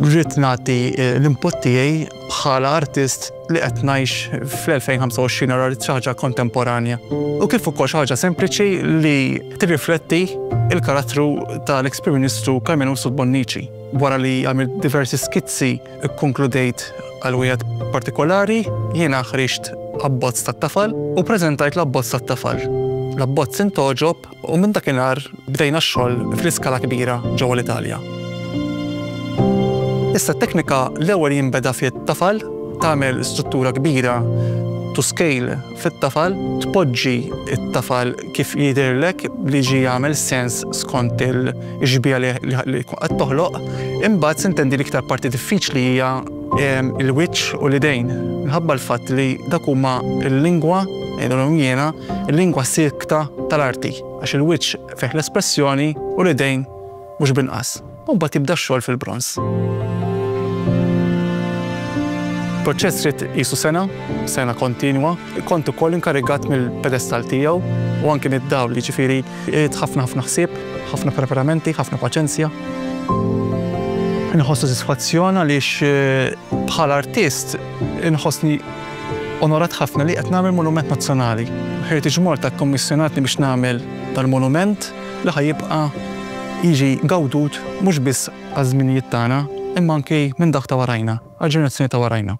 Rrid nagħti eh, l-input tiegħi bħala artist li qed ngħix fl-2025 ara li ħaġa kontemporanja. U kif ukoll xi ħaġa sempliċi li tirrifletti il-karattru tal-Ex-Prim Ministru Carmenu Subbonnici wara li għamil diversi skizzi Ikkonkludejt għal wieħed partikolari, jiena ħriġt abbozz tat-tafal u ppreżentajt l-abbozz tat-tafal. L-abbozz intgħoġob u minn dakinhar bdejna x-xogħol fl-iskala kbira ġewwa l-Italja. Issa t-teknika l-ewwel jinbeda fit-tafal, tagħmel struttura kbira to scale, fit-tafal. Tpoġġi t-tafal kif jidhirlek li ġie jagħmel sens skont il-xbieha li tkun qed toħloq. Imbagħad se intendi l-iktar parti diffiċli hija l-wiċċ u l-idejn minħabba l-fatt li dak huma l-lingwa, ngħidulhom jiena, il-lingwa siekta tal-arti għax il-wiċċ fih l-espressjoni u l-idejn mhux b'inqas, u mbagħad jibda x-xogħol fil-bronż. Proċess ried qisu sena, sena kontinwa, kont ukoll inkarigat mill-pedestall tiegħu u anki mid-dawl, jiġifieri ried ħafna ħafna ħsieb, ħafna preparamenti, ħafna paċenzja. Inħoss sodisfazzjon għaliex eh, bħala artist inħossni onorat ħafna li qed nagħmel monument nazzjonali. Heritage Malta kkommissjonatni biex nagħmel dal-monument li ħa jibqa' jiġi gawdut mhux biss għaż-żminijiet tagħna imma anki minn dak ta' warajna, għall-ġenerazzjoni ta' warajna.